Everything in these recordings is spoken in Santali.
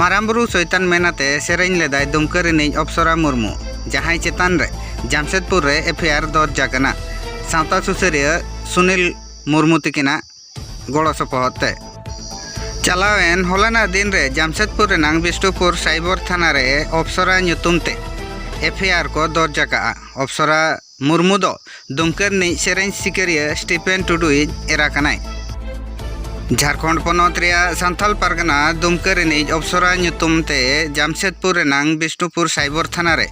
ᱢᱟᱨᱟᱝ ᱵᱩᱨᱩ ᱥᱳᱭᱛᱟᱱ ᱢᱮᱱ ᱟᱛᱮ ᱥᱮᱨᱮᱧ ᱞᱮᱫᱟᱭ ᱫᱩᱢᱠᱟᱹ ᱨᱤᱱᱤᱡ ᱚᱯᱥᱚᱨᱟ ᱢᱩᱨᱢᱩ ᱡᱟᱦᱟᱸᱭ ᱪᱮᱛᱟᱱ ᱨᱮ ᱡᱟᱢᱥᱮᱫᱽᱯᱩᱨ ᱨᱮ ᱮᱯᱷ ᱟᱭ ᱟᱨ ᱫᱚᱨᱡᱽ ᱟᱠᱟᱱᱟ ᱥᱟᱶᱛᱟ ᱥᱩᱥᱟᱹᱨᱤᱭᱟᱹ ᱥᱩᱱᱤᱞ ᱢᱩᱨᱢᱩ ᱛᱤᱠᱤᱱᱟᱜ ᱜᱚᱲᱚ ᱥᱚᱯᱚᱦᱚᱫ ᱛᱮ ᱪᱟᱞᱟᱣᱮᱱ ᱦᱚᱞᱟᱱᱟᱜ ᱫᱤᱱ ᱨᱮ ᱡᱟᱢᱥᱮᱫᱽᱯᱩᱨ ᱨᱮᱱᱟᱜ ᱵᱤᱥᱱᱩᱯᱩᱨ ᱥᱟᱭᱵᱚᱨ ᱛᱷᱟᱱᱟ ᱨᱮ ᱚᱯᱥᱚᱨᱟ ᱧᱩᱛᱩᱢ ᱛᱮ ᱮᱯᱷ ᱟᱭ ᱟᱨ ᱠᱚ ᱫᱚᱨᱡᱽ ᱟᱠᱟᱫᱼᱟ ᱚᱯᱥᱚᱨᱟ ᱢᱩᱨᱢᱩ ᱫᱚ ᱫᱩᱢᱠᱟᱹ ᱨᱤᱱᱤᱡ ᱥᱮᱨᱮᱧ ᱥᱤᱠᱟᱹᱨᱤᱭᱟᱹ ᱥᱴᱤᱯᱷᱮᱱ ᱴᱩᱰᱩᱭᱤᱡ ᱮᱨᱟ ᱠᱟᱱᱟᱭ᱾ ᱡᱷᱟᱨᱠᱷᱚᱸᱰ ᱯᱚᱱᱚᱛ ᱨᱮᱭᱟᱜ ᱥᱟᱱᱛᱷᱟᱞ ᱯᱟᱨᱜᱟᱱᱟ ᱫᱩᱢᱠᱟᱹ ᱨᱤᱱᱤᱡ ᱚᱯᱥᱚᱨᱟ ᱧᱩᱛᱩᱢ ᱛᱮ ᱡᱟᱢᱥᱮᱫᱽᱯᱩᱨ ᱨᱮᱱᱟᱝ ᱵᱤᱥᱱᱩᱯᱩᱨ ᱥᱟᱭᱵᱚᱨ ᱛᱷᱟᱱᱟ ᱨᱮ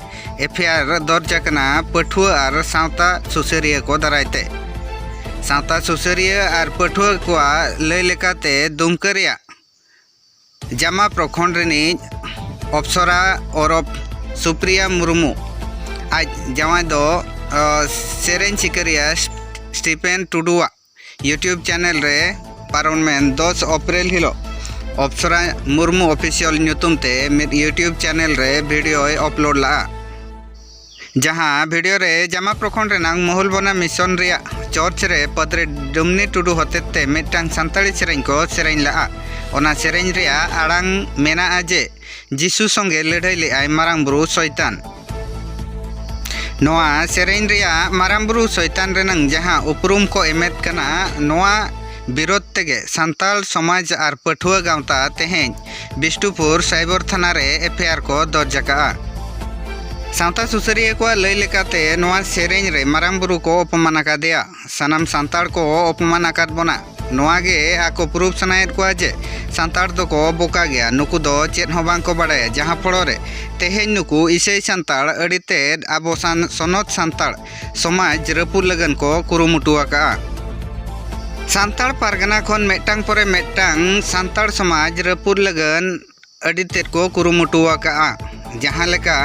ᱮᱯᱷᱭᱟᱨ ᱫᱚᱨᱡᱽ ᱟᱠᱟᱱᱟ ᱯᱟᱹᱴᱷᱩᱣᱟᱹ ᱟᱨ ᱥᱟᱶᱛᱟ ᱥᱩᱥᱟᱹᱨᱤᱭᱟᱹ ᱠᱚ ᱫᱟᱨᱟᱭ ᱛᱮ᱾ ᱥᱟᱶᱛᱟ ᱥᱩᱥᱟᱹᱨᱤᱭᱟᱹ ᱟᱨ ᱯᱟᱹᱴᱷᱩᱣᱟᱹ ᱠᱚᱣᱟᱜ ᱞᱟᱹᱭ ᱞᱮᱠᱟᱛᱮ ᱫᱩᱢᱠᱟᱹ ᱨᱮᱭᱟᱜ ᱡᱟᱢᱟ ᱯᱨᱚᱠᱷᱚᱸᱰ ᱨᱤᱱᱤᱡ ᱚᱯᱥᱚᱨᱟ ᱳᱨᱚᱯᱷ ᱥᱩᱯᱨᱤᱭᱟ ᱢᱩᱨᱢᱩ ᱟᱡ ᱡᱟᱶᱟᱭ ᱫᱚ ᱥᱮᱨᱮᱧ ᱥᱤᱠᱟᱹᱨᱤᱭᱟᱹ ᱥᱴᱤᱯᱷᱮᱱ ᱴᱩᱰᱩᱣᱟᱜ ᱭᱩᱴᱭᱩᱵᱽ ᱪᱮᱱᱮᱞ ᱨᱮ ᱯᱟᱨᱚᱢᱮᱱ ᱫᱚᱥ ᱮᱯᱨᱤᱞ ᱦᱤᱞᱳᱜ ᱚᱯᱥᱚᱨᱟ ᱢᱩᱨᱢᱩ ᱚᱯᱷᱤᱥᱤᱭᱟᱞ ᱧᱩᱛᱩᱢ ᱛᱮ ᱢᱤᱫ ᱭᱩᱴᱭᱩᱵᱽ ᱪᱮᱱᱮᱞ ᱨᱮ ᱵᱷᱤᱰᱤᱭᱳᱭ ᱟᱯᱞᱳᱰ ᱞᱟᱜᱼᱟ ᱡᱟᱦᱟᱸ ᱵᱷᱤᱰᱤᱭᱳ ᱨᱮ ᱡᱟᱢᱟ ᱯᱨᱚᱠᱷᱚᱸᱰ ᱨᱮᱱᱟᱝ ᱢᱚᱦᱩᱞᱵᱚᱱᱟ ᱢᱤᱥᱚᱱ ᱨᱮᱭᱟᱜ ᱪᱚᱨᱪ ᱨᱮ ᱯᱟᱫᱽᱨᱮ ᱰᱩᱢᱱᱤ ᱴᱩᱰᱩ ᱦᱚᱛᱮᱛ ᱛᱮ ᱢᱤᱫᱴᱟᱝ ᱥᱟᱱᱛᱟᱲᱤ ᱥᱮᱨᱮᱧ ᱠᱚ ᱥᱮᱨᱮᱧ ᱞᱟᱜᱼᱟ ᱚᱱᱟ ᱥᱮᱨᱮᱧ ᱨᱮᱭᱟᱜ ᱟᱲᱟᱝ ᱢᱮᱱᱟᱜᱼᱟ ᱡᱮ ᱡᱤᱥᱩ ᱥᱚᱸᱜᱮ ᱞᱟᱹᱰᱷᱟᱹᱭ ᱞᱮᱫᱼᱟᱭ ᱢᱟᱨᱟᱝ ᱵᱩᱨᱩ ᱥᱚᱭᱛᱟᱱ ᱱᱚᱣᱟ ᱥᱮᱨᱮᱧ ᱨᱮᱭᱟᱜ ᱢᱟᱨᱟᱝ ᱵᱩᱨᱩ ᱥᱚᱭᱛᱟᱱ ᱨᱮᱱᱟᱝ ᱡᱟᱦᱟᱸ ᱩᱯᱨᱩᱢ ᱠᱚ ᱮᱢᱮᱫ ᱠᱟᱱᱟ ᱱᱚᱣᱟ ᱵᱤᱨᱳᱫᱷ ᱛᱮᱜᱮ ᱥᱟᱱᱛᱟᱲ ᱥᱚᱢᱟᱡᱽ ᱟᱨ ᱯᱟᱹᱴᱷᱩᱣᱟᱹ ᱜᱟᱶᱛᱟ ᱛᱮᱦᱮᱧ ᱵᱤᱥᱴᱩᱯᱩᱨ ᱥᱟᱭᱵᱚᱨ ᱛᱷᱟᱱᱟ ᱨᱮ ᱮᱯᱷᱮᱭᱟᱨ ᱠᱚ ᱫᱚᱨᱡᱽ ᱟᱠᱟᱫᱼᱟ᱾ ᱥᱟᱶᱛᱟ ᱥᱩᱥᱟᱹᱨᱤᱭᱟᱹ ᱠᱚᱣᱟᱜ ᱞᱟᱹᱭ ᱞᱮᱠᱟᱛᱮ ᱱᱚᱶᱟ ᱥᱮᱨᱮᱧ ᱨᱮ ᱢᱟᱨᱟᱝ ᱵᱩᱨᱩ ᱠᱚ ᱚᱯᱚᱢᱟᱱ ᱟᱠᱟᱫᱮᱭᱟ᱾ ᱥᱟᱱᱟᱢ ᱥᱟᱱᱛᱟᱲ ᱠᱚ ᱚᱯᱚᱢᱟᱱ ᱟᱠᱟᱫ ᱵᱚᱱᱟ᱾ ᱱᱚᱶᱟ ᱜᱮ ᱟᱠᱚ ᱯᱨᱩᱵᱷ ᱥᱟᱱᱟᱭᱮᱫ ᱠᱚᱣᱟ ᱡᱮ ᱥᱟᱱᱛᱟᱲ ᱫᱚᱠᱚ ᱵᱚᱠᱟ ᱜᱮᱭᱟ, ᱱᱩᱠᱩ ᱫᱚ ᱪᱮᱫ ᱦᱚᱸ ᱵᱟᱝ ᱠᱚ ᱵᱟᱰᱟᱭᱟ ᱡᱟᱦᱟᱸ ᱯᱷᱚᱲᱚ ᱨᱮ ᱛᱮᱦᱮᱧ ᱱᱩᱠᱩ ᱤᱥᱟᱹᱭ ᱥᱟᱱᱛᱟᱲ ᱟᱹᱰᱤ ᱛᱮᱫ ᱟᱵᱚ ᱥᱟᱱ ᱥᱚᱱᱚᱛ ᱥᱟᱱᱛᱟᱲ ᱥᱚᱢᱟᱡᱽ ᱨᱟᱹᱯᱩᱫ ᱞᱟᱹᱜᱤᱫ ᱠᱚ ᱠᱩᱨᱩᱢᱩᱴᱩ ᱟᱠᱟᱫᱼᱟ ᱥᱟᱱᱛᱟᱲ ᱯᱟᱨᱜᱟᱱᱟ ᱠᱷᱚᱱ ᱢᱤᱫᱴᱟᱝ ᱯᱚᱨᱮ ᱢᱤᱫᱴᱟᱝ ᱥᱟᱱᱛᱟᱲ ᱥᱚᱢᱟᱡᱽ ᱨᱟᱹᱯᱩᱫ ᱞᱟᱹᱜᱤᱫ ᱟᱹᱰᱤ ᱛᱮᱫ ᱠᱚ ᱠᱩᱨᱩᱢᱩᱴᱩ ᱟᱠᱟᱫᱼᱟ ᱡᱟᱦᱟᱸ ᱞᱮᱠᱟ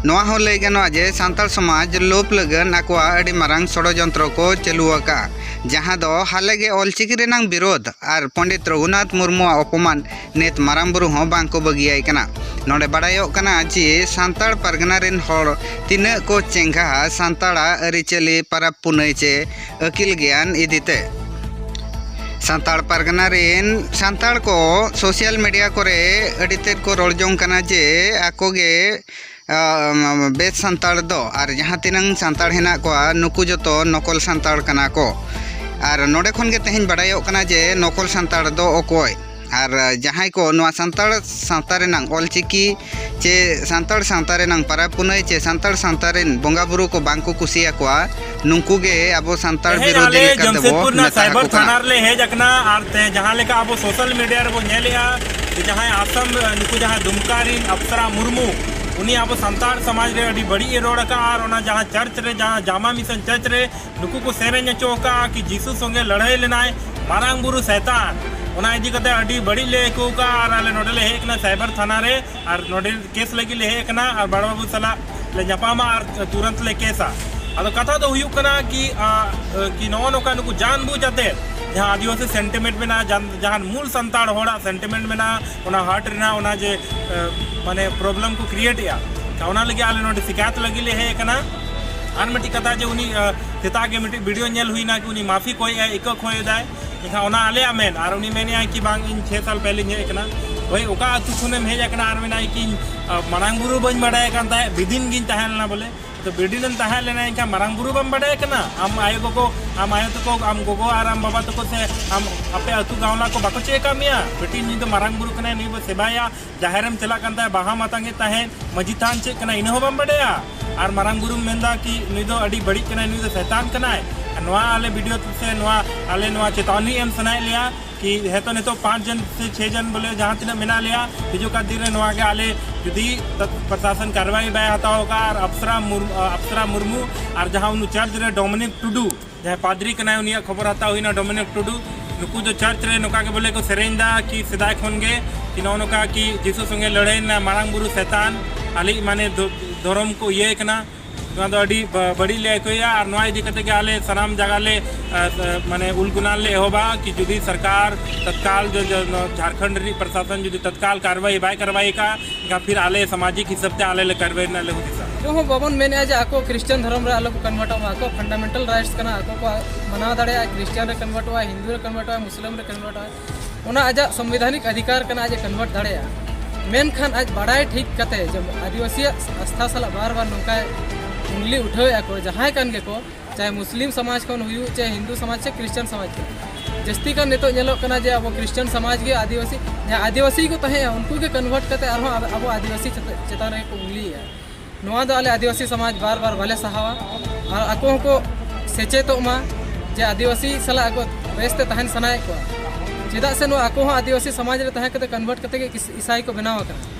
ᱱᱚᱣᱟ ᱦᱚᱸ ᱞᱟᱹᱭ ᱜᱟᱱᱚᱜᱼᱟ ᱡᱮ ᱥᱟᱱᱛᱟᱲ ᱥᱚᱢᱟᱡᱽ ᱞᱳᱯ ᱞᱟᱹᱜᱤᱫ ᱟᱠᱚᱣᱟᱜ ᱟᱹᱰᱤ ᱢᱟᱨᱟᱝ ᱥᱚᱲᱚᱡᱚᱱᱛᱨᱚ ᱠᱚ ᱪᱟᱹᱞᱩ ᱟᱠᱟᱫᱼᱟ ᱡᱟᱦᱟᱸ ᱫᱚ ᱦᱟᱞᱮ ᱜᱮ ᱚᱞᱪᱤᱠᱤ ᱨᱮᱱᱟᱜ ᱵᱤᱨᱳᱫᱷ ᱟᱨ ᱯᱚᱱᱰᱤᱛ ᱨᱚᱜᱷᱩᱱᱟᱛᱷ ᱢᱩᱨᱢᱩᱣᱟᱜ ᱚᱯᱚᱢᱟᱱ ᱱᱤᱛ ᱢᱟᱨᱟᱝ ᱵᱩᱨᱩ ᱦᱚᱸ ᱵᱟᱝ ᱠᱚ ᱵᱟᱹᱜᱤᱭᱟᱭ ᱠᱟᱱᱟ ᱱᱚᱰᱮ ᱵᱟᱰᱟᱭᱚᱜ ᱠᱟᱱᱟ ᱡᱮ ᱥᱟᱱᱛᱟᱲ ᱯᱟᱨᱜᱟᱱᱟ ᱨᱮᱱ ᱦᱚᱲ ᱛᱤᱱᱟᱹᱜ ᱠᱚ ᱪᱮᱸᱜᱷᱟᱜᱼᱟ ᱥᱟᱱᱛᱟᱲᱟᱜ ᱟᱹᱨᱤᱪᱟᱹᱞᱤ ᱯᱟᱨᱟᱵᱽ ᱯᱩᱱᱟᱹᱭ ᱪᱮ ᱟᱹᱠᱤᱞ ᱜᱮᱭᱟᱱ ᱤᱫᱤ ᱛᱮ ᱥᱟᱱᱛᱟᱲ ᱯᱟᱨᱜᱟᱱᱟ ᱨᱮᱱ ᱥᱟᱱᱛᱟᱲ ᱠᱚ ᱥᱳᱥᱟᱞ ᱢᱤᱰᱤᱭᱟ ᱠᱚᱨᱮ ᱟᱹᱰᱤ ᱛᱮᱫ ᱠᱚ ᱨᱚᱲ ᱡᱚᱝ ᱠᱟᱱᱟ ᱡᱮ ᱟᱠᱚ ᱜᱮ ᱵᱮᱥ ᱥᱟᱱᱛᱟᱲ ᱫᱚ ᱟᱨ ᱡᱟᱦᱟᱸ ᱛᱤᱱᱟᱹᱝ ᱥᱟᱱᱛᱟᱲ ᱦᱮᱱᱟᱜ ᱠᱚᱣᱟ ᱱᱩᱠᱩ ᱡᱚᱛᱚ ᱱᱚᱠᱚᱞ ᱥᱟᱱᱛᱟᱲ ᱠᱟᱱᱟ ᱠᱚ ᱟᱨ ᱱᱚᱰᱮ ᱠᱷᱚᱱ ᱜᱮ ᱛᱮᱦᱮᱧ ᱵᱟᱰᱟᱭᱚᱜ ᱠᱟᱱᱟ ᱡᱮ ᱱᱚᱠᱚᱞ ᱥᱟᱱᱛᱟᱲ ᱫᱚ ᱚᱠᱚᱭ ᱟᱨ ᱡᱟᱦᱟᱸᱭ ᱠᱚ ᱱᱚᱣᱟ ᱥᱟᱱᱛᱟᱲ ᱥᱟᱶᱛᱟ ᱨᱮᱱᱟᱜ ᱚᱞ ᱪᱤᱠᱤ ᱪᱮ ᱥᱟᱱᱛᱟᱲ ᱥᱟᱶᱛᱟ ᱨᱮᱱᱟᱜ ᱯᱚᱨᱚᱵᱽ ᱯᱩᱱᱟᱹᱭ ᱪᱮ ᱥᱟᱱᱛᱟᱲ ᱥᱟᱶᱛᱟ ᱨᱮᱱ ᱵᱚᱸᱜᱟᱼᱵᱩᱨᱩ ᱠᱚ ᱵᱟᱝ ᱠᱚ ᱠᱩᱥᱤᱭᱟᱠᱚᱣᱟ ᱱᱩᱠᱩ ᱜᱮ ᱟᱵᱚ ᱥᱟᱱᱛᱟᱲ ᱵᱤᱨᱳᱫᱷᱤ ᱞᱮᱠᱟ ᱛᱮ ᱵᱚ ᱢᱮᱛᱟ ᱠᱚ ᱠᱟᱱᱟ ᱛᱷᱟᱱᱟ ᱨᱮ ᱦᱮᱡ ᱟᱠᱟᱱᱟ ᱟᱨ ᱛᱮ ᱡᱟᱦᱟᱸ ᱞᱮᱠᱟ ᱟᱵᱚ ᱥᱳᱥᱟᱞ ᱢᱤᱰᱤᱭᱟ ᱨᱮ ᱵᱚ ᱧᱮᱞᱮᱜᱼᱟ ᱡᱟᱦᱟᱸᱭ ᱟᱥᱟᱢ ᱱᱩᱠᱩ ᱡᱟᱦᱟᱸ ᱫᱩᱢᱠᱟ ᱨᱤᱱ ᱟᱯᱥᱟᱨᱟ ᱢᱩᱨᱢᱩ ᱩᱱᱤ ᱟᱵᱚ ᱥᱟᱱᱛᱟᱲ ᱥᱚᱢᱟᱡᱽ ᱨᱮ ᱟᱹᱰᱤ ᱵᱟᱹᱲᱤᱡ ᱮ ᱨᱚᱲ ᱟᱠᱟᱜᱼᱟ ᱟᱨ ᱚᱱᱟ ᱡᱟᱦᱟᱸ ᱪᱟᱨᱪ ᱨᱮ ᱡᱟᱦᱟᱸ ᱡᱟᱢᱟ ᱢᱤᱥᱚᱱ ᱪᱟᱨᱪ ᱨᱮ ᱱᱩᱠᱩ ᱠᱚ ᱥᱮᱨᱮᱧ ᱦᱚᱪᱚ ᱟᱠᱟᱜᱼᱟ ᱠᱤ ᱡᱤᱥᱩ ᱥᱚᱸᱜᱮ ᱞᱟᱹᱲᱦᱟᱹᱭ ᱞᱮᱱᱟᱭ ᱢᱟᱨᱟᱝ ᱵᱩᱨᱩ ᱥᱮᱛᱟᱱ ᱚᱱᱟ ᱤᱫᱤ ᱠᱟᱛᱮ ᱟᱹᱰᱤ ᱵᱟᱹᱲᱤᱡ ᱞᱮ ᱟᱹᱭᱠᱟᱹᱣ ᱠᱟᱜᱼᱟ ᱟᱨ ᱟᱞᱮ ᱱᱚᱰᱮ ᱞᱮ ᱦᱮᱡ ᱟᱠᱟᱱᱟ ᱥᱟᱭᱵᱟᱨ ᱛᱷᱟᱱᱟ ᱨᱮ ᱟᱨ ᱱᱚᱰᱮ ᱠᱮᱥ ᱞᱟᱹᱜᱤᱫ ᱞᱮ ᱦᱮᱡ ᱟᱠᱟᱱᱟ ᱟᱨ ᱵᱟᱲᱟ ᱵᱟᱹᱵᱩ ᱥᱟᱞᱟᱜ ᱞᱮ ᱧᱟᱯᱟᱢᱟ ᱟᱨ ᱛᱩᱨᱟᱹᱱᱛ ᱞᱮ ᱠᱮᱥᱟ ᱟᱫᱚ ᱠᱟᱛᱷᱟ ᱫᱚ ᱦᱩᱭᱩᱜ ᱠᱟᱱᱟ ᱠᱤ ᱠᱤ ᱱᱚᱜᱼᱚ ᱱᱚᱝᱠᱟ ᱱᱩᱠᱩ ᱡᱟᱱ ᱵᱩᱡᱽ ᱟᱛᱮ ᱡᱟᱦᱟᱸ ᱟᱹᱫᱤᱵᱟᱹᱥᱤ ᱥᱮᱱᱴᱤᱢᱮᱱᱴ ᱢᱮᱱᱟᱜᱼᱟ ᱡᱟᱦᱟᱸ ᱢᱩᱞ ᱥᱟᱱᱛᱟᱲ ᱦᱚᱲᱟᱜ ᱥᱮᱱᱴᱤᱢᱮᱱᱴ ᱢᱮᱱᱟᱜᱼᱟ ᱚᱱᱟ ᱦᱟᱨᱴ ᱨᱮᱱᱟᱜ ᱚᱱᱟ ᱡᱮ ᱢᱟᱱᱮ ᱯᱨᱚᱵᱞᱮᱢ ᱠᱚ ᱠᱨᱤᱭᱮᱴ ᱮᱜᱼᱟ ᱚᱱᱟ ᱞᱟᱹᱜᱤᱫ ᱟᱞᱮ ᱱᱚᱰᱮ ᱥᱤᱠᱟᱭᱚᱛ ᱞᱟᱹᱜᱤᱫ ᱞᱮ ᱦᱮᱡ ᱟᱠᱟᱱᱟ ᱟᱨ ᱢᱤᱫᱴᱤᱡ ᱠᱟᱛᱷᱟ ᱡᱮ ᱩᱱᱤ ᱥᱮᱛᱟᱜ ᱜᱮ ᱢᱤᱫᱴᱤᱡ ᱵᱷᱤᱰᱤᱭᱳ ᱧᱮᱞ ᱦᱩᱭᱱᱟ ᱠᱤ ᱩᱱᱤ ᱢᱟᱯᱷᱤ ᱠᱚᱭᱮᱜᱼᱟᱭ ᱤᱠᱟᱹ ᱠᱚᱭᱮᱫᱟᱭ ᱮᱱᱠᱷᱟᱱ ᱚᱱᱟ ᱟᱞᱮᱭᱟᱜ ᱢᱮᱱ ᱟᱨ ᱩᱱᱤ ᱢᱮᱱᱮᱜᱼᱟᱭ ᱠᱤ ᱵᱟᱝ ᱤᱧ ᱪᱷᱮ ᱥᱟᱞ ᱯᱮᱦᱞᱮᱧ ᱦᱮᱡ ᱟᱠᱟᱱᱟ ᱦᱳᱭ ᱚᱠᱟ ᱟᱹᱛᱩ ᱠᱷᱚᱱᱮᱢ ᱦᱮᱡ ᱟᱠᱟᱱᱟ ᱟᱨ ᱢᱮᱱᱟᱭ ᱠᱤ ᱢᱟᱨᱟᱝ ᱵᱩᱨᱩ ᱵᱟᱹᱧ ᱵᱟᱰᱟᱭ ᱠᱟᱱ ᱛᱟᱦᱮᱸᱫ ᱵᱤᱫᱤᱱ ᱜᱤᱧ ᱛᱟᱦᱮᱸ ᱞᱮᱱᱟ ᱵᱚᱞᱮ ᱛᱚ ᱵᱤᱫᱤᱱᱮᱢ ᱛᱟᱦᱮᱸ ᱞᱮᱱᱟ ᱮᱱᱠᱷᱟᱱ ᱢᱟᱨᱟᱝ ᱵᱩᱨᱩ ᱵᱟᱢ ᱵᱟᱰᱟᱭ ᱠᱟᱱᱟ ᱟᱢ ᱟᱭᱳ ᱜᱚᱜᱚ ᱟᱢ ᱟᱭᱳ ᱛᱟᱠᱚ ᱟᱢ ᱜᱚᱜᱚ ᱟᱨ ᱟᱢ ᱵᱟᱵᱟ ᱛᱟᱠᱚ ᱥᱮ ᱟᱢ ᱟᱯᱮ ᱟᱹᱛᱩ ᱜᱟᱶᱞᱟ ᱠᱚ ᱵᱟᱠᱚ ᱪᱮᱫ ᱟᱠᱟᱫ ᱢᱮᱭᱟ ᱵᱤᱴᱤ ᱱᱩᱭ ᱫᱚ ᱢᱟᱨᱟᱝ ᱵᱩᱨᱩ ᱠᱟᱱᱟᱭ ᱱᱩᱭ ᱵᱚ ᱥᱮᱵᱟᱭᱟ ᱡᱟᱦᱮᱨ ᱮᱢ ᱪᱟᱞᱟᱜ ᱠᱟᱱ ᱛᱟᱦᱮᱸᱫ ᱵᱟᱦᱟ ᱢᱟᱛᱟᱝ ᱮᱫ ᱛᱟᱦᱮᱸᱫ ᱢᱟᱹᱡᱷᱤ ᱛᱷᱟᱱ ᱪᱮᱫ ᱠᱟᱱᱟ ᱤᱱᱟᱹ ᱦᱚᱸ ᱵᱟᱢ ᱵᱟᱰᱟᱭᱟ ᱟᱨ ᱢᱟᱨᱟᱝ ᱵᱩᱨᱩᱢ ᱢᱮᱱᱫᱟ ᱠᱤ ᱱᱩᱭ ᱫᱚ ᱟᱹᱰᱤ ᱵᱟᱹᱲᱤᱡ ᱠᱟᱱᱟᱭ ᱱᱩᱭ ᱫᱚ ᱥᱮᱛᱟᱱ ᱠᱟᱱᱟᱭ ᱱᱚᱣᱟ ᱟᱞᱮ ᱵᱷᱤᱰᱤᱭᱳ ᱥᱮ ᱱᱚᱣᱟ ᱟᱞᱮ ᱱᱚᱣᱟ ᱪᱮᱛᱟᱣᱱᱤ ᱮᱢ ᱥᱟᱱᱟᱭᱮᱫ ᱞᱮᱭᱟ ᱠᱤ ᱦᱮᱸᱛᱚ ᱱᱤᱛᱚᱜ ᱯᱟᱸᱪ ᱡᱚᱱ ᱥᱮ ᱪᱷᱮ ᱡᱚᱱ ᱵᱚᱞᱮ ᱡᱟᱦᱟᱸ ᱛᱤᱱᱟᱹᱜ ᱢᱮᱱᱟᱜ ᱞᱮᱭᱟ ᱦᱤᱡᱩᱜ ᱠᱟᱱ ᱫᱤᱱ ᱨᱮ ᱱᱚᱣᱟ ᱜᱮ ᱟᱞᱮ ᱡᱩᱫᱤ ᱯᱨᱚᱥᱟᱥᱚᱱ ᱠᱟᱨᱣᱟᱭ ᱵᱟᱭ ᱦᱟᱛᱟᱣ ᱠᱟᱜᱼᱟ ᱟᱨ ᱟᱯᱥᱨᱟ ᱟᱯᱥᱨᱟ ᱢᱩᱨᱢᱩ ᱟᱨ ᱡᱟᱦᱟᱸ ᱩᱱᱤ ᱪᱟᱨᱡᱽ ᱨᱮ ᱰᱚᱢᱤᱱᱤᱠ ᱴᱩᱰᱩ ᱡᱟᱦᱟᱸᱭ ᱯᱟᱫᱽᱨᱤ ᱠᱟᱱᱟᱭ ᱩᱱᱤᱭᱟᱜ ᱠᱷᱚᱵᱚᱨ ᱦᱟᱛᱟᱣ ᱦᱩᱭᱱᱟ ᱰᱚᱢᱤᱱᱤᱠ ᱴᱩᱰᱩ ᱱᱩᱠᱩ ᱫᱚ ᱪᱟᱨᱪ ᱨᱮ ᱱᱚᱝᱠᱟ ᱜᱮ ᱵᱚᱞᱮ ᱠᱚ ᱥᱮᱨᱮᱧ ᱫᱟ ᱠᱤ ᱥᱮᱫᱟᱭ ᱠᱷᱚᱱ ᱜᱮ ᱠᱤ ᱱᱚᱜᱼᱚ ᱱᱚᱝᱠᱟ ᱠᱤ ᱡᱤᱥᱩ ᱥᱚᱸᱜᱮ ᱞᱟᱹᱲᱦᱟᱹᱭ ᱞᱮᱱᱟ ᱢᱟᱨᱟᱝ ᱵᱩᱨᱩ ᱥᱮᱛᱟᱱ ᱟᱞᱮᱭᱤᱡ ᱢᱟᱱᱮ ᱫᱷᱚᱨᱚᱢ ᱠᱚ ᱤᱭᱟᱹᱭ ᱠᱟᱱᱟ ᱱᱚᱣᱟ ᱫᱚ ᱟᱹᱰᱤ ᱵᱟᱹᱲᱤᱡ ᱞᱮ ᱟᱹᱭᱠᱟᱹᱣᱮᱫᱼᱟ ᱟᱨ ᱱᱚᱣᱟ ᱤᱫᱤ ᱠᱟᱛᱮ ᱜᱮ ᱟᱞᱮ ᱥᱟᱱᱟᱢ ᱡᱟᱭᱜᱟ ᱞᱮ ᱢᱟᱱᱮ ᱩᱞᱜᱩᱱᱟ ᱞᱮ ᱮᱦᱚᱵᱟ ᱠᱤ ᱡᱩᱫᱤ ᱥᱚᱨᱠᱟᱨ ᱛᱚᱛᱠᱟᱞ ᱡᱷᱟᱲᱠᱷᱚᱸᱰ ᱨᱤᱱᱤᱡ ᱯᱨᱚᱥᱟᱥᱚᱱ ᱡᱩᱫᱤ ᱛᱚᱛᱠᱟᱞ ᱠᱟᱨᱵᱟᱭ ᱵᱟᱭ ᱠᱟᱨᱵᱟᱭ ᱠᱟᱜᱼᱟ ᱮᱱᱠᱷᱟᱱ ᱯᱷᱤᱨ ᱟᱞᱮ ᱥᱟᱢᱟᱡᱤᱠ ᱦᱤᱥᱟᱹᱵ ᱛᱮ ᱟᱞᱮ ᱞᱮ ᱠᱟᱨᱣᱟᱭ ᱨᱮᱱᱟᱜ ᱞᱮ ᱦᱩᱫᱤᱥᱟ ᱪᱮᱫ ᱦᱚᱸ ᱵᱟᱵᱚᱱ ᱢᱮᱱᱮᱫᱼᱟ ᱡᱮ ᱟᱠᱚ ᱠᱨᱤᱥᱪᱟᱱ ᱫᱷᱚᱨᱚᱢ ᱨᱮ ᱟᱞᱚ ᱠᱚ ᱠᱚᱱᱵᱷᱟᱨᱴᱚᱜ ᱢᱟ ᱟᱠᱚ ᱯᱷᱟᱱᱰᱟᱢᱮᱱᱴᱟᱞ ᱨᱟᱭᱤᱴᱥ ᱠᱟᱱᱟ ᱟᱠᱚ ᱠᱚ ᱢᱟᱱᱟᱣ ᱫᱟᱲᱮᱭᱟᱜᱼᱟ ᱠᱨᱤᱥᱪᱟᱱ ᱨᱮ ᱠᱚᱱᱵᱷᱟᱨᱴᱚᱜᱼᱟ ᱦᱤᱱᱫᱩ ᱨᱮ ᱠᱚᱱᱵᱷᱟᱨᱴᱚᱜᱼᱟ ᱢᱩᱥᱞᱤᱢ ᱨᱮ ᱠᱚᱱᱵᱷᱟᱨᱴᱚᱜᱼᱟ ᱚᱱᱟ ᱟᱡᱟᱜ ᱥᱚᱝᱵᱤᱫᱷᱟᱱᱤᱠ ᱟᱫᱷᱤᱠᱟᱨ ᱠᱟᱱᱟ ᱟᱡ ᱮ ᱠᱚᱱᱵᱷᱟᱨᱴ ᱫᱟᱲᱮᱭᱟᱜᱼᱟ ᱢᱮᱱᱠᱷᱟᱱ ᱟᱡ ᱵᱟᱲᱟᱭ ᱴᱷᱤᱠ ᱠᱟᱛᱮ ᱡᱮ ᱟᱹᱫᱤᱵᱟᱹᱥᱤᱭᱟᱜ ᱟᱥᱛᱷᱟ ᱥᱟᱞᱟᱜ ᱵᱟᱨ ᱵᱟᱨ ᱱᱚᱝᱠᱟᱭ ᱩᱝᱞᱤ ᱩᱴᱷᱟᱹᱣᱮᱫᱼᱟ ᱠᱚ ᱡᱟᱦᱟᱸᱭ ᱠᱟᱱ ᱜᱮᱠᱚ ᱪᱟᱦᱮ ᱢᱩᱥᱞᱤᱢ ᱥᱚᱢᱟᱡᱽ ᱠᱷᱚᱱ ᱦᱩᱭᱩᱜ ᱪᱟᱦᱮ ᱦᱤᱱᱫᱩ ᱥᱚᱢᱟᱡᱽ ᱪᱟᱦᱮ ᱠᱨᱤᱥᱪᱟᱱ ᱥᱚᱢᱟᱡᱽ ᱠᱷᱚᱱ ᱡᱟᱹᱥᱛᱤ ᱠᱟᱱ ᱱᱤᱛᱚᱜ ᱧᱮᱞᱚᱜ ᱠᱟᱱᱟ ᱡᱮ ᱟᱵᱚ ᱠᱨᱤᱥᱪᱟᱱ ᱥᱚᱢᱟᱡᱽ ᱜᱮ ᱟᱹᱫᱤᱵᱟᱹᱥᱤ ᱡᱟᱦᱟᱸ ᱟᱹᱫᱤᱵᱟᱹᱥᱤ ᱠᱚ ᱛᱟᱦᱮᱸᱜᱼᱟ ᱩᱱᱠᱩ ᱜᱮ ᱠᱚᱱᱵᱷᱟᱨᱴ ᱠᱟᱛᱮ ᱟᱨᱦᱚᱸ ᱟᱵᱚ ᱟᱹᱫᱤᱵᱟᱹᱥᱤ ᱪᱮᱛᱟᱱ ᱨᱮ ᱠᱚ ᱩᱝᱞᱤᱭᱮᱜᱼᱟ ᱱᱚᱣᱟ ᱫᱚ ᱟᱞᱮ ᱟᱹᱫᱤᱵᱟᱹᱥᱤ ᱥᱚᱢᱟᱡᱽ ᱵᱟᱨ ᱵᱟᱨ ᱵᱟᱞᱮ ᱥᱟᱦᱟᱣᱟ ᱟᱨ ᱟᱠᱚ ᱦᱚᱸᱠᱚ ᱥᱮᱪᱮᱫᱚᱜ ᱢᱟ ᱡᱮ ᱟᱹᱫᱤᱵᱟᱹᱥᱤ ᱥᱟᱞᱟᱜ ᱟᱠᱚ ᱵᱮᱥ ᱛᱮ ᱛᱟᱦᱮᱱ ᱥᱟᱱᱟᱭᱮᱫ ᱠᱚᱣᱟ ᱪᱮᱫᱟᱜ ᱥᱮ ᱱᱚᱣᱟ ᱟᱠᱚ ᱦᱚᱸ ᱟᱹᱫᱤᱵᱟᱹᱥᱤ ᱥᱚᱢᱟᱡᱽ ᱨᱮ ᱛᱟᱦᱮᱸ ᱠᱟᱛᱮ ᱠᱚᱱᱵᱷᱟᱨᱴ ᱠᱟᱛᱮ ᱜᱮ ᱤᱥᱟᱭ ᱠᱚ ᱵᱮᱱᱟᱣ ᱟᱠᱟᱱᱟ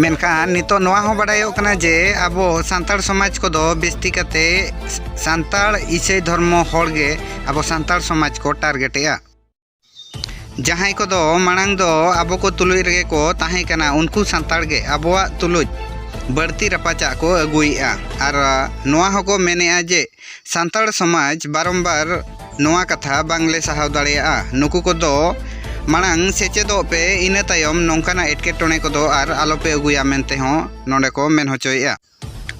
ᱢᱮᱱᱠᱷᱟᱱ ᱱᱤᱛᱚᱜ ᱱᱚᱣᱟ ᱦᱚᱸ ᱵᱟᱰᱟᱭᱚᱜ ᱠᱟᱱᱟ ᱡᱮ ᱟᱵᱚ ᱥᱟᱱᱛᱟᱲ ᱥᱚᱢᱟᱡᱽ ᱠᱚᱫᱚ ᱵᱮᱥᱛᱤ ᱠᱟᱛᱮ ᱥᱟᱱᱛᱟᱲ ᱤᱥᱟᱹᱭ ᱫᱷᱚᱨᱢᱚ ᱦᱚᱲ ᱜᱮ ᱟᱵᱚ ᱥᱟᱱᱛᱟᱲ ᱥᱚᱢᱟᱡᱽ ᱠᱚ ᱴᱟᱨᱜᱮᱴᱮᱜᱼᱟ ᱡᱟᱦᱟᱸᱭ ᱠᱚᱫᱚ ᱢᱟᱲᱟᱝ ᱫᱚ ᱟᱵᱚ ᱠᱚ ᱛᱩᱞᱩᱡ ᱨᱮᱜᱮ ᱠᱚ ᱛᱟᱦᱮᱸ ᱠᱟᱱᱟ ᱩᱱᱠᱩ ᱥᱟᱱᱛᱟᱲ ᱜᱮ ᱟᱵᱚᱣᱟᱜ ᱛᱩᱞᱩᱡ ᱵᱟᱹᱲᱛᱤ ᱨᱟᱯᱟᱪᱟᱜ ᱠᱚ ᱟᱹᱜᱩᱭᱮᱜᱼᱟ ᱟᱨ ᱱᱚᱣᱟ ᱦᱚᱸᱠᱚ ᱢᱮᱱᱮᱜᱼᱟ ᱡᱮ ᱥᱟᱱᱛᱟᱲ ᱥᱚᱢᱟᱡᱽ ᱵᱟᱨᱚᱢ ᱵᱟᱨ ᱱᱚᱣᱟ ᱠᱟᱛᱷᱟ ᱵᱟᱝ ᱞᱮ ᱥᱟᱦᱟᱣ ᱫᱟᱲᱮᱭᱟᱜᱼᱟ ᱱᱩᱠᱩ ᱠᱚᱫᱚ ᱢᱟᱲᱟᱝ ᱥᱮᱪᱮᱫᱚᱜ ᱯᱮ ᱤᱱᱟᱹ ᱛᱟᱭᱚᱢ ᱱᱚᱝᱠᱟᱱᱟᱜ ᱮᱴᱠᱮᱴᱚᱬᱮ ᱠᱚᱫᱚ ᱟᱨ ᱟᱞᱚ ᱯᱮ ᱟᱹᱜᱩᱭᱟ ᱢᱮᱱᱛᱮ ᱦᱚᱸ ᱱᱚᱰᱮ ᱠᱚ ᱢᱮᱱ ᱦᱚᱪᱚᱭᱮᱫᱼᱟ᱾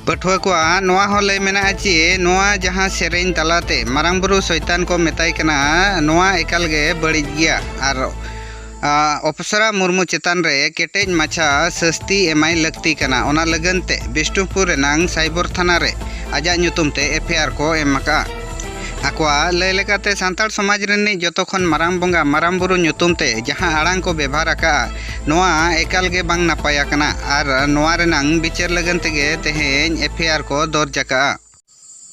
ᱯᱟᱹᱴᱷᱩᱣᱟᱹ ᱠᱚᱣᱟᱜ ᱱᱚᱣᱟ ᱦᱚᱸ ᱞᱟᱹᱭ ᱢᱮᱱᱟᱜᱼᱟ ᱪᱤ ᱱᱚᱣᱟ ᱡᱟᱦᱟᱸ ᱥᱮᱨᱮᱧ ᱛᱟᱞᱟ ᱛᱮ ᱢᱟᱨᱟᱝ ᱵᱩᱨᱩ ᱥᱚᱭᱛᱟᱱ ᱠᱚ ᱢᱮᱛᱟᱭ ᱠᱟᱱᱟ ᱱᱚᱣᱟ ᱮᱠᱟᱞ ᱜᱮ ᱵᱟᱹᱲᱤᱡ ᱜᱮᱭᱟ ᱟᱨ ᱚᱯᱥᱨᱟ ᱢᱩᱨᱢᱩ ᱪᱮᱛᱟᱱ ᱨᱮ ᱠᱮᱴᱮᱡ ᱢᱟᱪᱷᱟ ᱥᱟᱹᱥᱛᱤ ᱮᱢᱟᱭ ᱞᱟᱹᱠᱛᱤ ᱠᱟᱱᱟ ᱚᱱᱟ ᱞᱟᱹᱜᱤᱫ ᱛᱮ ᱵᱤᱥᱱᱩᱯᱩᱨ ᱨᱮᱱᱟᱜ ᱥᱟᱭᱵᱚᱨ ᱛᱷᱟᱱᱟ ᱨᱮ ᱟᱡᱟᱜ ᱧᱩᱛᱩᱢ ᱛᱮ ᱮᱯᱷ ᱟᱭ ᱟᱨ ᱠᱚ ᱮᱢ ᱟᱠᱟᱫᱼᱟ ᱟᱠᱚᱣᱟᱜ ᱞᱟᱹᱭ ᱞᱮᱠᱟᱛᱮ ᱥᱟᱱᱛᱟᱲ ᱥᱚᱢᱟᱡᱽ ᱨᱤᱱᱤᱡ ᱡᱚᱛᱚ ᱠᱷᱚᱱ ᱢᱟᱨᱟᱝ ᱵᱚᱸᱜᱟ ᱢᱟᱨᱟᱝ ᱵᱩᱨᱩ ᱧᱩᱛᱩᱢ ᱛᱮ ᱡᱟᱦᱟᱸ ᱟᱲᱟᱝ ᱠᱚ ᱵᱮᱵᱷᱟᱨ ᱟᱠᱟᱫᱼᱟ ᱱᱚᱣᱟ ᱮᱠᱟᱞ ᱜᱮ ᱵᱟᱝ ᱱᱟᱯᱟᱭ ᱟᱠᱟᱱᱟ ᱟᱨ ᱱᱚᱣᱟ ᱨᱮᱱᱟᱜ ᱵᱤᱪᱟᱹᱨ ᱞᱟᱹᱜᱤᱫ ᱛᱮᱜᱮ ᱛᱮᱦᱮᱧ ᱮᱯᱷ ᱟᱭ ᱟᱨ ᱠᱚ ᱫᱚᱨᱡᱽ ᱟᱠᱟᱫᱼᱟ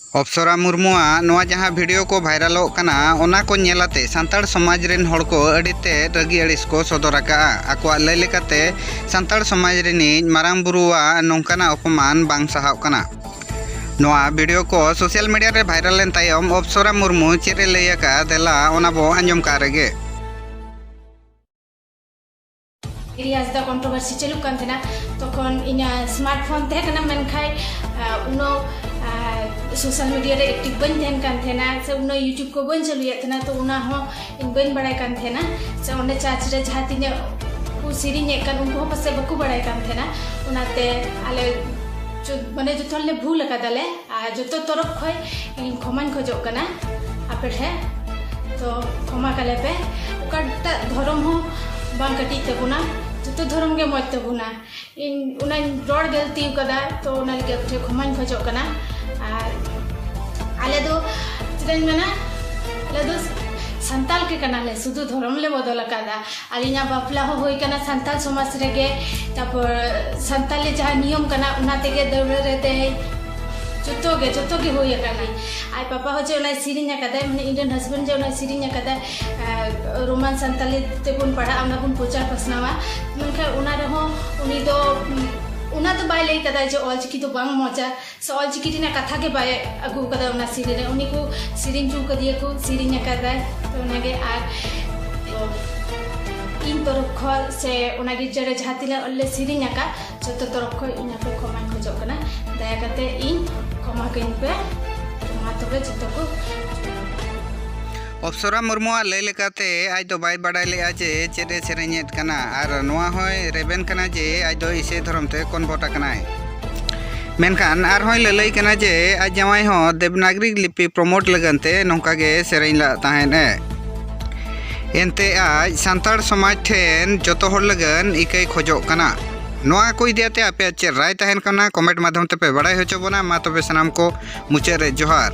ᱚᱯᱥᱚᱨᱟ ᱢᱩᱨᱢᱩᱣᱟᱜ ᱱᱚᱣᱟ ᱡᱟᱦᱟᱸ ᱵᱷᱤᱰᱤᱭᱳ ᱠᱚ ᱵᱷᱟᱭᱨᱟᱞᱚᱜ ᱠᱟᱱᱟ ᱚᱱᱟ ᱠᱚ ᱧᱮᱞ ᱟᱛᱮ ᱥᱟᱱᱛᱟᱲ ᱥᱚᱢᱟᱡᱽ ᱨᱤᱱ ᱦᱚᱲ ᱠᱚ ᱟᱹᱰᱤ ᱛᱮᱫ ᱨᱟᱹᱜᱤ ᱟᱹᱲᱤᱥ ᱠᱚ ᱥᱚᱫᱚᱨ ᱟᱠᱟᱫᱼᱟ᱾ ᱟᱠᱚᱣᱟᱜ ᱞᱟᱹᱭ ᱞᱮᱠᱟᱛᱮ ᱥᱟᱱᱛᱟᱲ ᱥᱚᱢᱟᱡᱽ ᱨᱤᱱᱤᱡ ᱢᱟᱨᱟᱝ ᱵᱩᱨᱩᱣᱟᱜ ᱱᱚᱝᱠᱟᱱᱟᱜ ᱚᱯᱚᱢᱟᱱ ᱵᱟᱝ ᱥᱟᱦᱟᱣᱜ ᱠᱟᱱᱟ᱾ ᱱᱚᱣᱟ ᱵᱷᱤᱰᱤᱭᱳ ᱠᱚ ᱥᱚᱥᱤᱭᱟᱞ ᱢᱤᱰᱤᱭᱟ ᱨᱮ ᱵᱷᱟᱭᱨᱟᱞ ᱮᱱ ᱛᱟᱭᱚᱢ ᱚᱯᱥᱚᱨᱟ ᱢᱩᱨᱢᱩ ᱪᱮᱫ ᱮ ᱞᱟᱹᱭ ᱟᱠᱟᱫᱼᱟ ᱫᱮᱞᱟ ᱚᱱᱟ ᱵᱚ ᱟᱸᱡᱚᱢ ᱠᱟᱜ ᱨᱮᱜᱮ᱾ ᱨᱮᱭᱟᱡᱽ ᱫᱚ ᱠᱚᱱᱴᱨᱳᱵᱷᱟᱨᱥᱤ ᱪᱟᱹᱞᱩᱜ ᱠᱟᱱ ᱛᱟᱦᱮᱱᱟ ᱛᱚᱠᱷᱚᱱ ᱤᱧᱟᱹᱜ ᱥᱢᱟᱨᱴᱯᱷᱳᱱ ᱛᱟᱦᱮᱸ ᱠᱟᱱᱟ ᱢᱮᱱᱠᱷᱟᱱ ᱩᱱᱟᱹᱜ ᱥᱳᱥᱟᱞ ᱢᱤᱰᱤᱭᱟ ᱨᱮ ᱮᱠᱴᱤᱵᱷ ᱵᱟᱹᱧ ᱛᱟᱦᱮᱱ ᱠᱟᱱ ᱛᱟᱦᱮᱱᱟ ᱥᱮ ᱩᱱᱟᱹᱜ ᱤᱭᱩᱴᱩᱵᱽ ᱠᱚ ᱵᱟᱹᱧ ᱪᱟᱹᱞᱩᱭᱮᱫ ᱛᱟᱦᱮᱱᱟ ᱛᱚ ᱚᱱᱟ ᱦᱚᱸ ᱤᱧ ᱵᱟᱹᱧ ᱵᱟᱲᱟᱭ ᱠᱟᱱ ᱛᱟᱦᱮᱱᱟ ᱥᱮ ᱚᱸᱰᱮ ᱪᱟᱨᱪ ᱨᱮ ᱡᱟᱦᱟᱸ ᱛᱤᱱᱟᱹᱜ ᱠᱚ ᱥᱮᱨᱮᱧᱮᱫ ᱠᱟᱱ ᱩᱱᱠᱩ ᱦᱚᱸ ᱯᱟᱥᱮᱡ ᱵᱟᱠᱚ ᱵᱟᱲᱟᱭ ᱠᱟᱱ ᱛᱟᱦᱮᱱᱟ ᱚᱱᱟᱛᱮ ᱟᱞᱮ ᱢᱟᱱᱮ ᱡᱚᱛᱚ ᱦᱚᱲᱞᱮ ᱵᱷᱩᱞ ᱟᱠᱟᱫᱟᱞᱮ ᱟᱨ ᱡᱚᱛᱚ ᱛᱚᱨᱚᱯ ᱠᱷᱚᱡ ᱤᱧ ᱠᱷᱚᱢᱟᱧ ᱠᱷᱚᱡᱚᱜ ᱠᱟᱱᱟ ᱟᱯᱮ ᱴᱷᱮᱡ ᱛᱚ ᱠᱷᱚᱢᱟ ᱠᱟᱞᱮ ᱯᱮ ᱚᱠᱟᱴᱟᱜ ᱫᱷᱚᱨᱚᱢ ᱦᱚᱸ ᱵᱟᱝ ᱠᱟᱹᱴᱤᱡ ᱛᱟᱵᱚᱱᱟ ᱡᱚᱛᱚ ᱫᱷᱚᱨᱚᱢ ᱜᱮ ᱢᱚᱡᱽ ᱛᱟᱵᱚᱱᱟ ᱤᱧ ᱚᱱᱟᱧ ᱨᱚᱲ ᱜᱟᱹᱞᱛᱤ ᱠᱟᱫᱟ ᱛᱚ ᱚᱱᱟ ᱞᱟᱹᱜᱤᱫ ᱟᱯᱮ ᱴᱷᱮᱡ ᱠᱷᱚᱢᱟᱧ ᱠᱷᱚᱡᱚᱜ ᱠᱟᱱᱟ ᱟᱨ ᱟᱞᱮ ᱫᱚ ᱪᱮᱫᱟᱧ ᱢᱮᱱᱟ ᱟᱞᱮ ᱫᱚ ᱥᱟᱱᱛᱟᱞ ᱜᱮ ᱠᱟᱱᱟᱞᱮ ᱥᱩᱫᱷᱩ ᱫᱷᱚᱨᱚᱢ ᱞᱮ ᱵᱚᱫᱚᱞ ᱟᱠᱟᱫᱟ ᱟᱹᱞᱤᱧᱟᱜ ᱵᱟᱯᱞᱟ ᱦᱚᱸ ᱦᱩᱭ ᱠᱟᱱᱟ ᱥᱟᱱᱛᱟᱲ ᱥᱚᱢᱟᱡᱽ ᱨᱮᱜᱮ ᱛᱟᱨᱯᱚᱨ ᱥᱟᱱᱛᱟᱲᱤ ᱡᱟᱦᱟᱸ ᱱᱤᱭᱚᱢ ᱠᱟᱱᱟ ᱚᱱᱟ ᱛᱮᱜᱮ ᱫᱟᱹᱣᱲᱟᱹ ᱨᱮ ᱫᱮᱡ ᱡᱚᱛᱚ ᱜᱮ ᱡᱚᱛᱚ ᱜᱮ ᱦᱩᱭ ᱟᱠᱟᱱᱟ ᱟᱡ ᱯᱟᱯᱟ ᱦᱚᱸ ᱡᱮ ᱚᱱᱟᱭ ᱥᱮᱨᱮᱧ ᱟᱠᱟᱫᱟᱭ ᱢᱟᱱᱮ ᱤᱧ ᱨᱮᱱ ᱦᱟᱥᱵᱮᱱᱰ ᱡᱮ ᱚᱱᱟᱭ ᱥᱮᱨᱮᱧ ᱟᱠᱟᱫᱟᱭ ᱨᱳᱢᱟᱱ ᱥᱟᱱᱛᱟᱲᱤ ᱛᱮᱵᱚᱱ ᱯᱟᱲᱦᱟᱜᱼᱟ ᱚᱱᱟ ᱵᱚᱱ ᱯᱨᱚᱪᱟᱨ ᱯᱟᱥᱱᱟᱣᱟ ᱢᱮᱱᱠᱷᱟᱱ ᱚᱱᱟ ᱨᱮᱦᱚᱸ ᱩᱱᱤ ᱫᱚ ᱚᱱᱟ ᱫᱚ ᱵᱟᱭ ᱞᱟᱹᱭ ᱠᱟᱫᱟ ᱡᱮ ᱚᱞᱪᱤᱠᱤ ᱫᱚ ᱵᱟᱝ ᱢᱚᱡᱟ ᱥᱮ ᱚᱞ ᱪᱤᱠᱤ ᱨᱮᱱᱟᱜ ᱠᱟᱛᱷᱟ ᱜᱮ ᱵᱟᱭ ᱟᱹᱜᱩ ᱟᱠᱟᱫᱟ ᱚᱱᱟ ᱥᱮᱨᱮᱧ ᱨᱮ ᱩᱱᱤ ᱠᱚ ᱥᱮᱨᱮᱧ ᱦᱚᱪᱚ ᱟᱠᱟᱫᱮᱭᱟ ᱠᱚ ᱥᱮᱨᱮᱧ ᱟᱠᱟᱫᱟᱭ ᱛᱚ ᱚᱱᱟᱜᱮ ᱟᱨ ᱤᱧ ᱛᱚᱨᱚᱯ ᱠᱷᱚᱱ ᱥᱮ ᱚᱱᱟ ᱜᱤᱨᱡᱟᱹ ᱨᱮ ᱡᱟᱦᱟᱸ ᱛᱤᱱᱟᱹᱜ ᱞᱮ ᱥᱮᱨᱮᱧ ᱟᱠᱟᱫ ᱡᱚᱛᱚ ᱛᱚᱨᱚᱯ ᱠᱷᱚᱱ ᱤᱧ ᱟᱯᱮ ᱠᱷᱚᱢᱟᱧ ᱠᱷᱚᱡᱚᱜ ᱠᱟᱱᱟ ᱫᱟᱭᱟ ᱠᱟᱛᱮ ᱤᱧ ᱠᱷᱚᱢᱟ ᱠᱟᱹᱧ ᱯᱮ ᱢᱟ ᱛᱚᱵᱮ ᱡᱚᱛᱚ ᱠᱚ ᱚᱯᱥᱚᱨᱟ ᱢᱩᱨᱢᱩᱣᱟᱜ ᱞᱟᱹᱭ ᱞᱮᱠᱟᱛᱮ ᱟᱡ ᱫᱚ ᱵᱟᱭ ᱵᱟᱰᱟᱭ ᱞᱮᱫᱼᱟ ᱡᱮ ᱪᱮᱫ ᱮ ᱥᱮᱨᱮᱧᱮᱫ ᱠᱟᱱᱟ ᱟᱨ ᱱᱚᱣᱟ ᱦᱚᱸᱭ ᱨᱮᱵᱮᱱ ᱠᱟᱱᱟ ᱡᱮ ᱟᱡ ᱫᱚ ᱤᱥᱟᱹᱭ ᱫᱷᱚᱨᱚᱢ ᱛᱮ ᱠᱚᱱᱵᱷᱚᱨᱴ ᱟᱠᱟᱱᱟᱭ ᱢᱮᱱᱠᱷᱟᱱ ᱟᱨᱦᱚᱸᱭ ᱞᱟᱹᱞᱟᱹᱭ ᱠᱟᱱᱟ ᱡᱮ ᱟᱡ ᱡᱟᱶᱟᱭ ᱦᱚᱸ ᱫᱮᱵᱽᱱᱟᱜᱽᱨᱤ ᱞᱤᱯᱤ ᱯᱨᱚᱢᱳᱴ ᱞᱟᱹᱜᱤᱫ ᱛᱮ ᱱᱚᱝᱠᱟ ᱜᱮ ᱥᱮᱨᱮᱧ ᱞᱟᱜ ᱛᱟᱦᱮᱸᱫ ᱮ ᱮᱱᱛᱮ ᱟᱡ ᱥᱟᱱᱛᱟᱲ ᱥᱚᱢᱟᱡᱽ ᱴᱷᱮᱱ ᱡᱚᱛᱚ ᱦᱚᱲ ᱞᱟᱹᱜᱤᱫ ᱤᱠᱟᱹᱭ ᱠᱷᱚᱡᱚᱜ ᱠᱟᱱᱟ ᱱᱚᱣᱟ ᱠᱚ ᱤᱫᱤ ᱟᱛᱮ ᱟᱯᱮᱭᱟᱜ ᱪᱮᱫ ᱨᱟᱭ ᱛᱟᱦᱮᱱ ᱠᱟᱱᱟ ᱠᱚᱢᱮᱱᱴ ᱢᱟᱫᱽᱫᱷᱚᱢ ᱛᱮᱯᱮ ᱵᱟᱲᱟᱭ ᱦᱚᱪᱚ ᱵᱚᱱᱟ ᱢᱟ ᱛᱚᱵᱮ ᱥᱟᱱᱟᱢ ᱠᱚ ᱢᱩᱪᱟᱹᱫ ᱨᱮ ᱡᱚᱦᱟᱨ